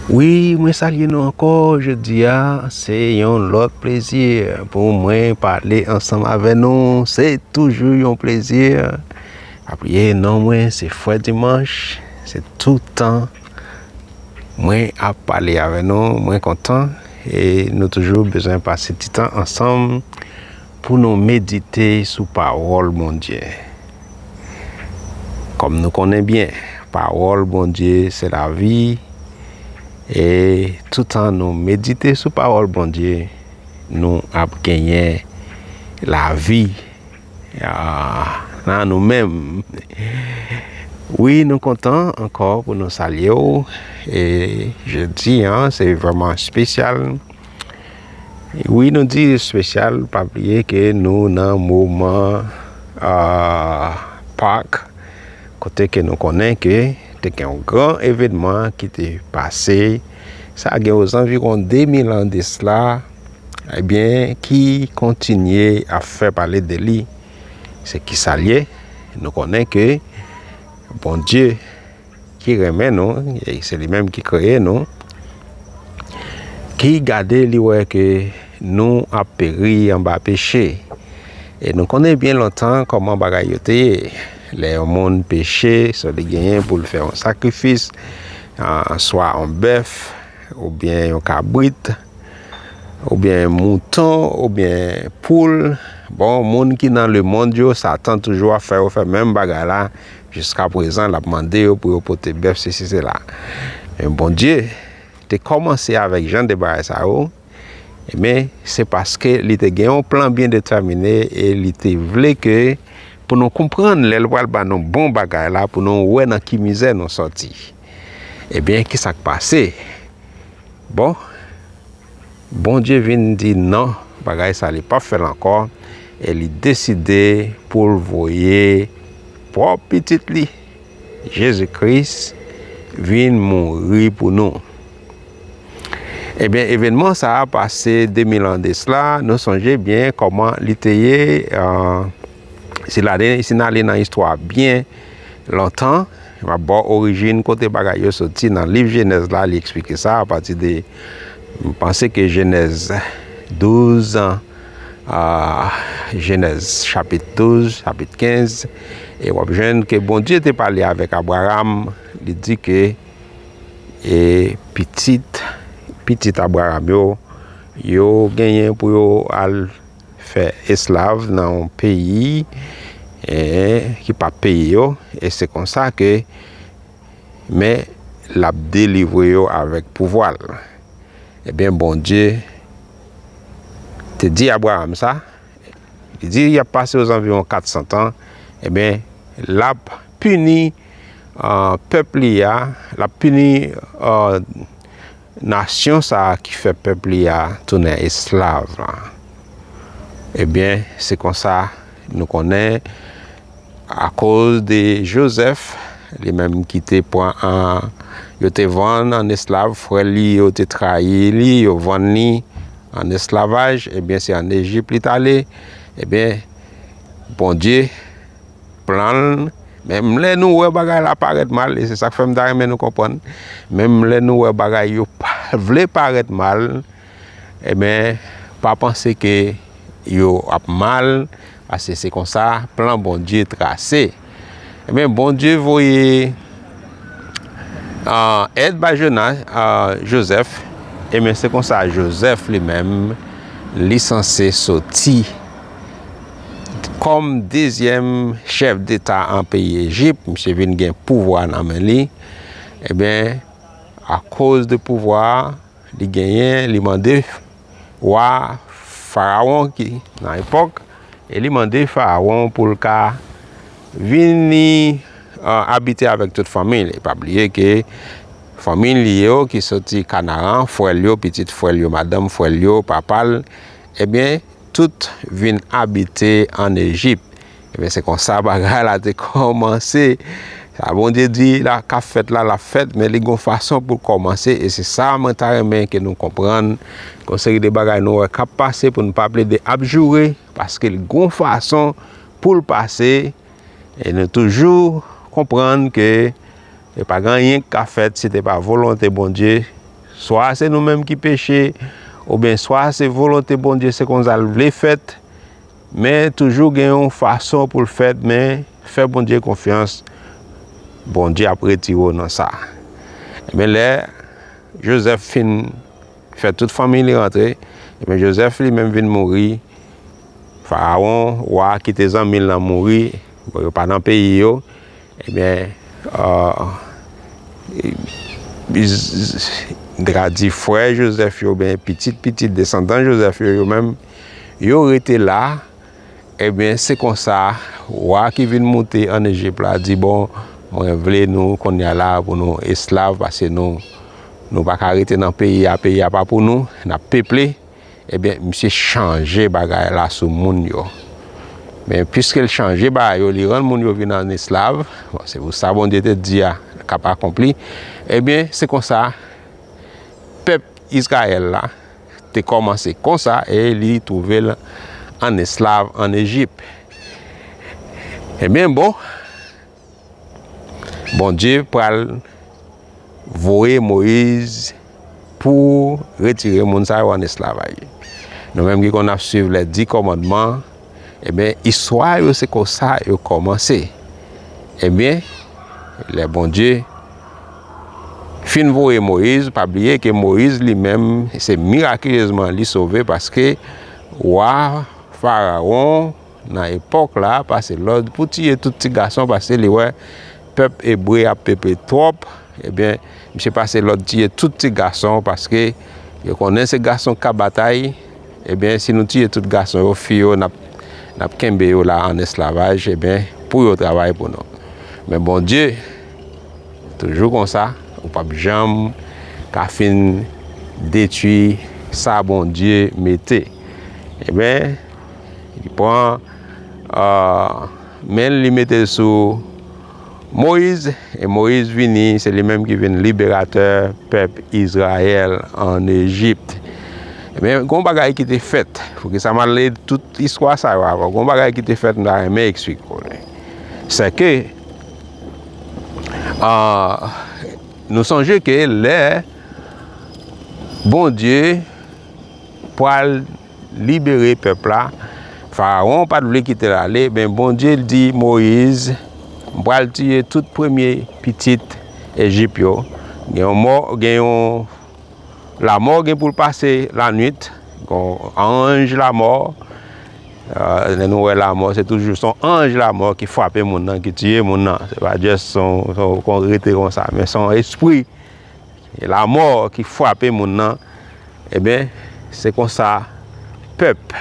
Wi mwen salye nou ankò jodi a se yon lòt plezi pou mwen pale ansanm avè nou se toujou yon plezi apiye non mwen se fwè dimanch se toutan mwen ap pale avè nou mwen kontan e nou toujou bezwen pase titan ansanm Pou nou medite sou pawòl Bondye. Kòm nou konnen byen pawòl Bondye se lavi e toutan nou medite sou pawòl Bondye nou ap genyen lavi nan nou menm. Wi nou kontan ankò pou nou salye ou e jodi an se vreman spesyal. Wi nou di spesyal pa bliye ke nou nan moman a pak kote ke nou konnen ke te gen yon gran evenman ki te pase sa gen yo zanvi kon 2000 an de sla e bien ki kontinye a fè pale de li se ki salye nou konnen ke bon die Ki renmen nou, e se li menm ki kreye nou, ki gade li wè ke nou ap peri anba peche. E nou konnen byen lontan kòman bagay yo te ye. Lè yon moun peche, sa li genyen pou l fè yon sakrifis, swa yon bèf, oubyen yon kabrit, oubyen yon mouton, oubyen yon poul. Bon, moun ki nan lemonn yo, Satan toujou ap fè yo fè menm bagay la. Jiska prezan l ap mande yo pou yo pote bèf sesi sela. Men Bondye te kòmanse avèk jan de bagay sa yo, men se paske li te gen yon plan byen detèmine e li te vle ke pou nou konprann lè l pral ban nou bon bagay la pou nou wè nan ki mizè nou sòti. Ebyen, kisa k pase? Bon, Bondye vin di non bagay sa li pap fèl ankò e li deside poul voye pwòp pitit li Jezi Kris vin mouri pou nou. Ebyen evenman sa pase 2000 an desla nou sonje byen kòman li te ye si nale nan istwa byen lontan. M ap ba w orijin kote bagay yo soti nan liv Jenèz la, li eksplike sa apati de m panse ke Jenèz 12 a Jenèz chapit 12, chapit 15 e w ap jwenn ke Bondye te pale avèk Abraram li di ke e pitit pitit Abraram yo yo genyen pou yo al Fè eslav nan yon peyi ki pa p peye yo, e se konsa ke, men, l ap delivre yo avèk pouvwa l. Ebyen, Bondye te di Abraram sa, li di y ap pase ozanviwon 400 tan, ebyen, l ap pini pèp li a, l ap pini. Nasyon sa a ki fè pèp li a tounen esklav la. Ebyen, se konsa nou konnen akoz de Jozèf, li menm ki te pran an, yo te vann an esklav, frè li yo te trayi li, yo vann li an esklavaj, ebyen se an Ejip li t ale, ebyen Bondye plan l, menm lè nou wè bagay la parèt mal, e se sa k fè m ta renmen nou konprann, menm lè nou wè bagay yo vle parèt mal, enben, pa panse ke yo ap mal, paske se konsa plan Bondye trase. Enben, Bondye voye èd bay Jozèf, enben se konsa Jozèf li menm, li sanse soti Kòm dezyèm chèf deta an peyi Ejip, misye vin gen pouvwa nan men li, ebyen akoz de pouvwa li genyen, li mande wa farawon ki nan epòk e li mande farawon pou l ka vini abite avèk tout fanmi li, pa bliye ke fanmi li yo ki soti Kanaran, frè l yo, pitit frè l yo, madanm frè l yo, papa l, ebyen tout vin abite ann Ejip. Ebyen, se konsa bagay la te kòmanse. Sa Bondye di la k ap fèt la, l ap fèt, men li gen yon fason pou l kòmanse. E se sa mwen ta renmen ke nou konprann. Gen yon seri de bagay nou wè k ap pase pou nou pa plede ap joure, paske l gen yon fason pou l pase. E nou toujou konprann ke. E pa gen anyen ki ka fèt si te pa volonte Bondye, swa se nou menm ki peche, oubyen swa se volonte Bondye se konsa l vle fèt, men toujou gen yon fason pou l fèt, men fè Bondye konfyans, Bondye ap retire w nan sa. Ebyen lè Jozèf fin fè tout fanmiy li rantre, ebyen Jozèf li menm vin mouri, Farawon, wa ki te zanmi l lan mouri, bon yo pa nan peyi yo, Ebyen m te ka di frè Jozèf yo oubyen pitit pitit desandan Jozèf yo, yo menm yo rete la, ebyen se konsa wa ki vin moute ann Ejip la di bon mwen vle nou konnya la pou nou esklav pase nou nou pa ka rete nan peyi a, peyi a pa pou nou n ap peple. Ebyen misye chanje bagay la sou moun yo. Men piske l chanje bagay yo, li rann moun yo vin an esklav, bon se pou sa Bondye te di a k ap akonpli, ebyen se konsa pèp Izrayèl la te kòmanse konsa e li twouve l an esklav an Ejip. Ebyen bon. Bondye pral voye Moyiz pou retire moun sa yo an esklavaj. Nou menm ki konn ap suiv lè di kòmandman, ebyen eh istwa yo se kon sa yo kòmanse. Ebyen, eh lè Bondye fin voye Moyiz, pa bliye ke Moyiz li menm se mirakilezman li sove paske wa Farawon nan epòk la a pase lòd pou tiye tout ti gason paske li wè pèp ebre ap pepe twòp, ebyen misye pase lòd tiye tout ti gason paske yo konnen se gason k ka batay, ebyen si nou tiye tout gason yo, fi yo n ap kenbe yo la an esklavaj ebyen pou yo travay pou nou. Men Bondye toujou konsa, ou p ap janm ka fin detwi sa Bondye mete. Ebyen. Li pran men l, li mete l sou Moyiz, e Moyiz vini, se li menm ki vin liberatè pèp Izrayèl an Ejipt. Men, gon bagay ki te fèt, pou ki sa m al li tout istwa sa yo avan, gon bagay ki te fèt m ta renmen eksplike pou nou. Se ke, nou sonje ke lè Bondye pral libere pèp la, Farawon pa t vle kite l ale, men Bondye di Moyiz, M pral tiye tout premye pitit Ejip yo. Gen yon mò, gen yon lamò gen pou l pase lanwit, yon anj lamò, euh, lè nou wè lamò, se toujou son anj lamò ki frape moun nan, ki tiye moun nan, se pa jès son, son kon rete konsa, men son espri. e lamò ki fwape moun nan, eben, se konsa pèp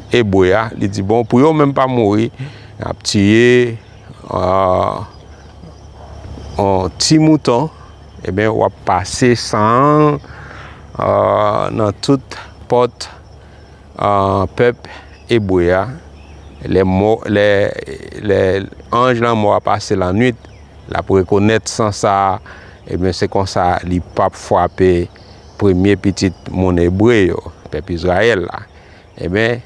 Ebre a, li di, bon, pou yo menm pa mouri, y ap tiye yon ti mouton, eben, w ap pase san an nan tout pòt pèp Ebre a, lè anj lanmò a pase lannwit. L ap rekonèt san sa, ebyen se konsa li pap frape premye pitit moun Ebre yo, pèp Izrayèl la. Ebyen,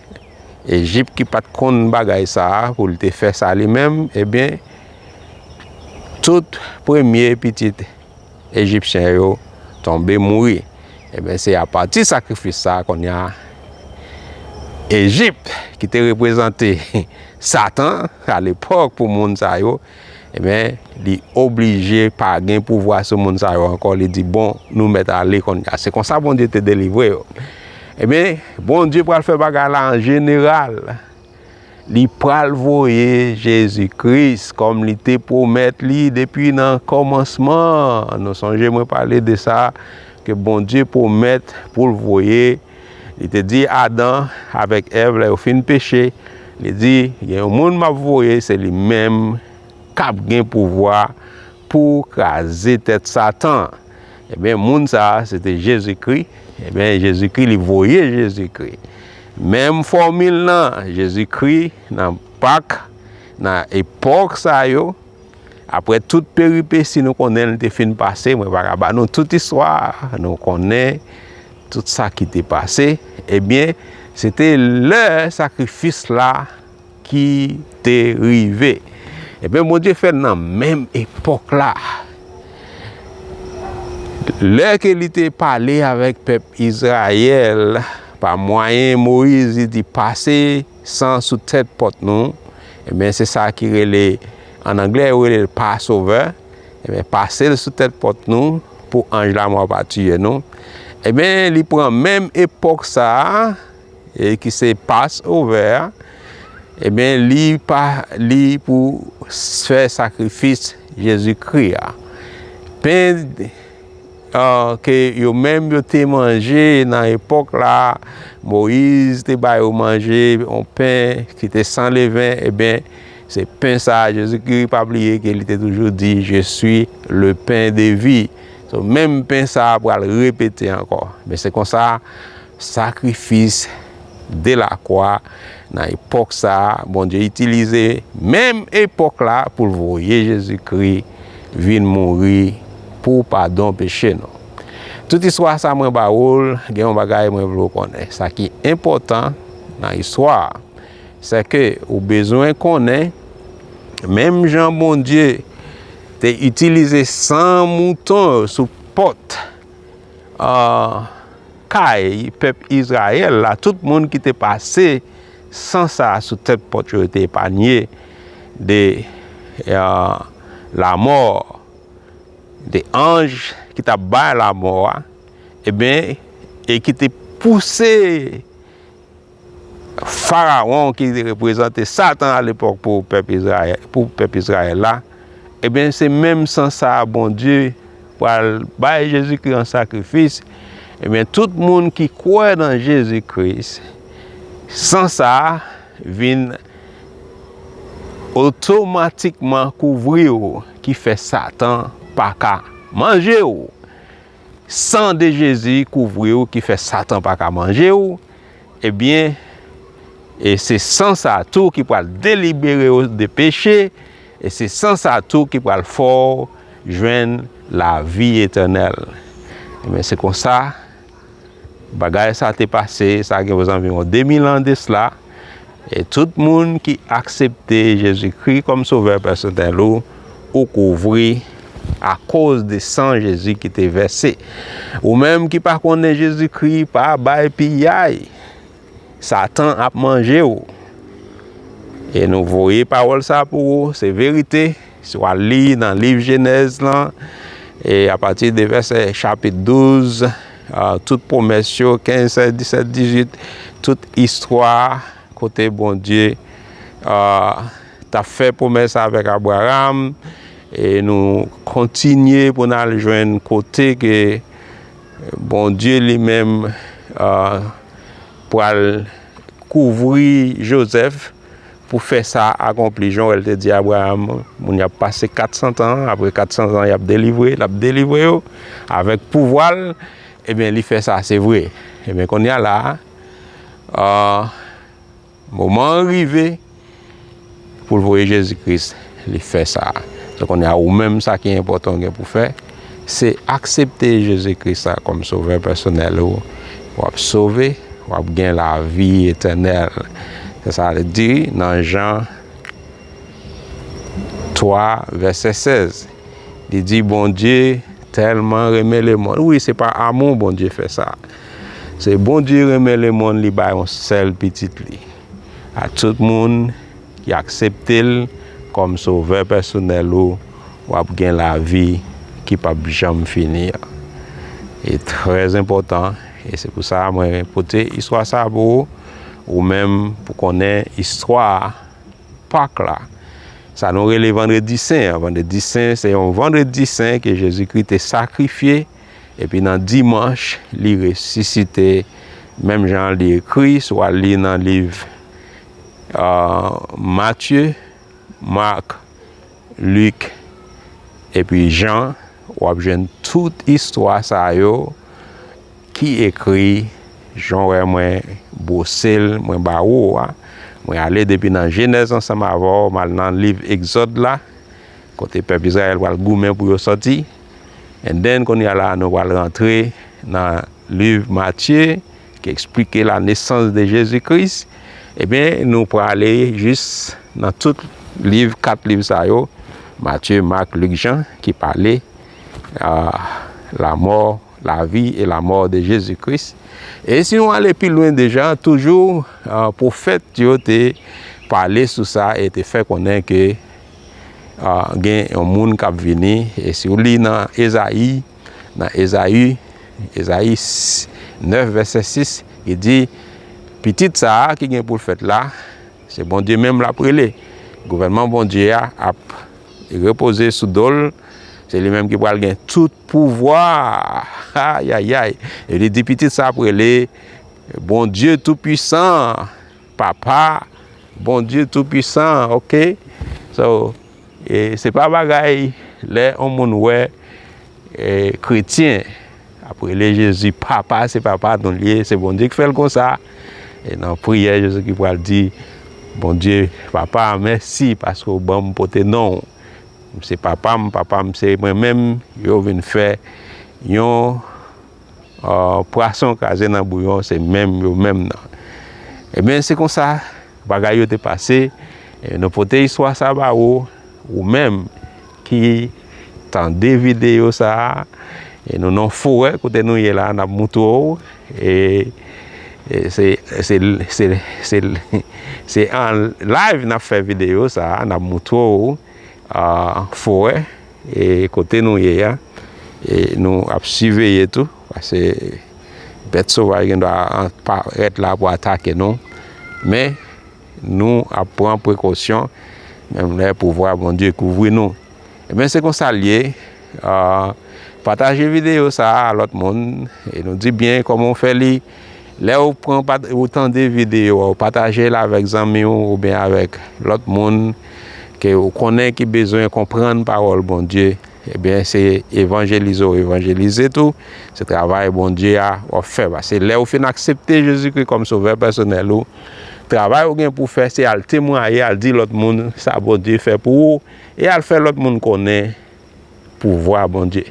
Ejip ki pa t konn bagay sa a pou l te fè sa li menm, ebyen, tout premye pitit Ejipsyen yo tonbe mouri. Ebyen, se apati sakrifis sa a kounye a, Ejip ki te reprezante Satan alepòk pou moun sa yo, Ebyen, li oblije pa gen pouvwa sou moun sa yo ankò, li di, bon, nou mèt ale konnya. Se konsa Bondye te delivre yo. Ebyen, Bondye pral fè bagay la an jeneral. Li pral voye Jezi Kris kòm li te pwomèt li depi nan kòmansman. Nou sonje mwen pale de sa, ke Bondye pwomèt pou l voye Jezi. Li te di Adan avèk Èv lè yo fin peche, li di, Gen yon moun m ap voye, se li menm k ap gen pouvwa pou kraze tèt Satan an. Ebyen, moun sa a, se te Jezikri. Ebyen, Jezikri, li voye Jezikri. Menm fòmil nan, Jezikri, nan Pak, nan epòk sa yo, Aprè tout peripesi nou konnen li te fin pase, mwen pa ka ba nou tout istwa, nou konnen tout sa ki te pase, ebyen, se te lè sakrifis la ki te rive. Ebyen, eh Bondye fè nan menm epòk la. Lè ke li te pale avèk pèp Izrayèl, pa mwayen Moyiz, li di pase. San sou tèt pòt nou, enben se sa ki rele, an anglè yo rele l Passover, enben pase l sou tèt pòt nou pou anj lamò pa tiye nou, enben li pran menm epòk sa a, e ki se Passover a, enben li pa li pou fè sakrifis Jezikri a. Pen. ke yo menm yo te manje nan epòk la, Moyiz te ba yo manje yon pen ki te san leven, e ben, se pen sa a Jezikri, pa bliye ke li te toujou di, Je swi le pen de vi. Menm pen sa a pral repete ankò. Men se konsa, Sakrifis de la kwa nan epòk sa a, Bondye itilize menm epòk la pou l voye Jezikri vin mouri pou padon peche nou. Tout istwa sa mwen ba ou l, gen yon bagay mwen vle ou konnen. Sa ki enpòtan nan istwa a, sèke ou bezwen konnen menm jan Bondye te itilize san mouton yo sou pòt, kay pèp Izrayèl la, tout moun ki te pase san sa a sou tèt pòt yo, yo te epanye de lamò, de anj ki t ap bay lamò a, e ki te pouse. Farawon ki te reprezante Satan alepòk pou pèp Izrayèl la, ebyen se menm san sa a Bondye pral bay Jezikri an sakrifis, ebyen tout moun ki kwè nan Jezikri, san sa a vin otomatikman kouvri ou ki fè Satan pa ka manje ou. San de Jezi kouvri ou ki fè Satan pa ka manje ou, ebyen, e se san sa a tou ki pral delibere ou de peche, e se san sa a tou ki pral fè ou jwenn lavi etènèl. Ebyen, se konsa bagay sa te pase, sa gen prezanviwon 2000 an desla. E tout moun ki aksepte Jezikri kòm sovè pèsonèl ou, ou kouvri akoz de san Jezi ki te vèse. Ou menm ki pa konnen Jezikri, pa bay piyay. Satan ap manje ou. E nou voye pawòl sa pou ou, se verite. Si w al li nan liv Jenèz lan, e apati de vèsè chapit 12, tout pwomès yo, 15, 16, 17, 18, tout istwa kote Bondye t ap fè pwomès avèk Abraram, e nou kontinye pou n al jwenn kote ke Bondye li menm pral kouvri Jozèf. Pou fè sa akonpli, jan wè l te di Abraram, moun y ap pase 400 tan, apre 400 tan y ap delivre, l ap delivre yo avèk pouvwa l, ebyen li fè sa se vre. Ebyen kounye a la a, moman an rive pou l voye Jezi Kris, li fè sa. Donk kounye a ou menm sa ki enpòtan ou gen pou fè, Se aksepte Jezi Kris la kòm sovè pèsonèl ou, w ap sove, w ap gen lavi etènèl. Se sa l di nan Jan 3 vèsè 16. Li di Bondye tèlman renmen lemonn. Wi, se pa amou Bondye fè sa. Se Bondye renmen lemonn li bay yon sèl pitit li a tout moun. Ki aksepte l kòm sovè pèsonèl ou, w ap gen lavi ki p ap janm fini an. Li trè enpòtan e se pou sa mwen pote istwa sa pou ou, ou menm pou konnen istwa Pak la. Sa nou rele Vandredi Sen an. Vandredi Sen se yon Vandredi Sen ke Jezikri te sakrifye epi nan Dimanch li resisite menm jan li ekri si w al li nan liv Matye, Mak, Lik, epi Jan, w ap jwenn tout istwa sa yo ki ekri jan w wè mwen bwose l mwen ba ou a. Mwen ale depi nan Jenèz ansanm avè w, m al nan liv Egzòd la, kote pèp Izrayèl pral goumen pou yo sòti. And then, kounye a la a nou pral rantre nan liv Matye. ki eksplike la nesans de Jezi Kris, ebyen nou prale jis nan tout liv, kat liv sa yo, Matye, Mak, Lik, Jan, ki pale la mò, la vi e la mò de Jezi Kris. E si nou ale pi lwen deja, toujou pwofèt yo te pale sou sa e te fè konnen ke gen yon moun kap vini, e si ou li nan Ezayi, Nan Ezayi, Ezayi 9 vèsè 6, li di, Pitit sa a ki gen pou l fèt la, se Bondye menm l ap rele. Gouvènman Bondye a ap repoze sou do l, se li menm ki pral gen tout pouvwa. Ayayay! E li di, Pitit sa a ap rele Bondye Toupuisan, Papa Bondye Toupuisan. Ok? So. E se pa bagay lè yon moun wè kretyen ap rele Jezi papa, se papa nou l ye, se Bondye ki fè l konsa. E nan priyè Jezi ki pral di, Bondye papa mèsi paske ou ban m pote non w. M se papa m, papa m se mwen menm, yo vin fè yon pwason kraze nan bouyon se menm yo menm nan. Ebyen se konsa Bagay yo te pase, e nou pote istwa sa ba ou, ou menm ki tande videyo sa a, e nou nan forè kote nou ye la, n ap moutre w, e se, se, se, se, se an live n ap fè videyo sa a, n ap moutre w forè. E kote nou ye a, e nou ap siveye tou, pase bèt sovaj gen dwa parèt la pou atake nou, men nou ap pran prekosyon, menm lè pouvwa Bondye kouvri nou. Ebyen se konsa l ye, pataje videyo sa a lòt moun, e nou di byen kòman w fè li. Lè ou pran ou tande videyo a ou pataje l avèk zanmi ou oubyen avèk lòt moun ke ou konnen ki bezwen konprann pawòl Bondye, ebyen se evanjelize ou evanjelize tou, se travay Bondye a w ap fè. Pase lè ou fin aksepte Jezikri kòm sovè pèsonèl ou, travay ou gen pou w fè se al temwaye, al di lòt moun sa Bondye fè pou ou e al fè lòt moun konnen. pouvwa Bondye.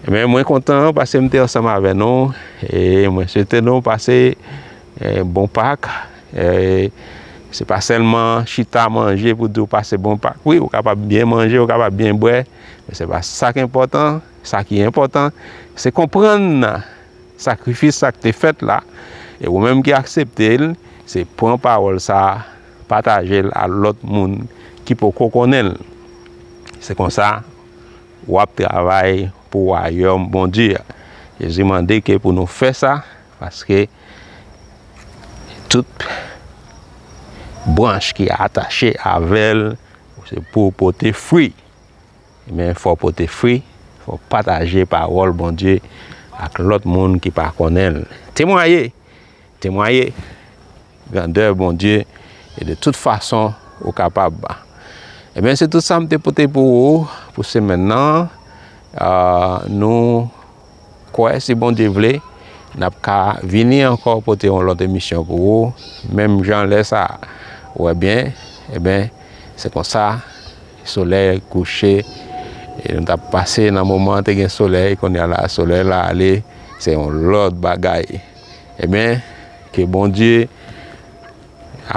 Men mwen kontan pase mte ansanm avè nou e mwen swete nou pase eh, bon pak. Eh, se pa sèlman chita manje pou diw pase bon pak. Wi, ou kapab byen manje, ou kapab byen bwè, men se pa sa ki enpòtan. Sa ki enpòtan, se konprann sakrifis sa k te fèt la e ou menm ki aksepte l, se pran pawòl sa pataje l a lòt moun ki poko konnen l. Se konsa, w ap travay pou Wayòm Bondye a. Jezi mande ke pou nou fè sa, paske tout branch ki atache avè l se pou w pote fwi. Men, fò w pote fwi, fò w pataje pawòl Bondye ak lòt moun ki pa konnen l. Temwaye Temwaye grandè Bondye e de tout fason ou kapab. Ebyen se tout sa m te pote pou ou pou semèn nan. Nou kwè si Bondye vle n ap ka vini ankò pote yon lòt emisyon pou ou menm jan lè sa a. Ou wè byen, ebyen se konsa solèy kouche e nou t ap pase nan moman te gen solèy kounye a la solèy la ale se yon lòt bagay. Ebyen ke Bondye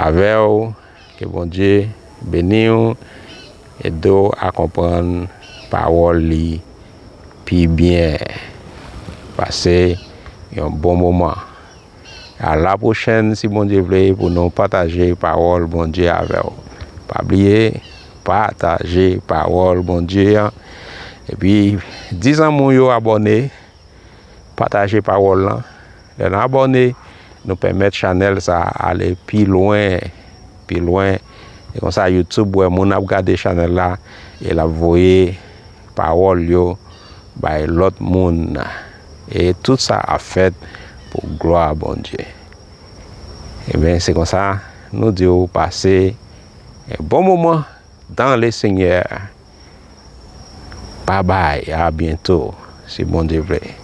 avèw ke Bondye beniw edew a konprann pawòl li pi byen pase yon bon moman a la pwochèn si Bondye vle pou nou pataje pawòl Bondye avèw pa bliye pataje pawòl Bondye an epi di zanmiw yo abòne. Pataje pawòl lan. Lè n abòne, nou pèmèt chanèl sa a ale pi lwen, pi lwen. E konsa YouTube wè moun ap gade chanèl la e l ap voye pawòl yo bay lòt moun. E tout sa ap fèt pou glwa Bondye. Ebyen se konsa nou di w pase bon moman dan Lesenyè. Bye bye a byento si Bondye vle.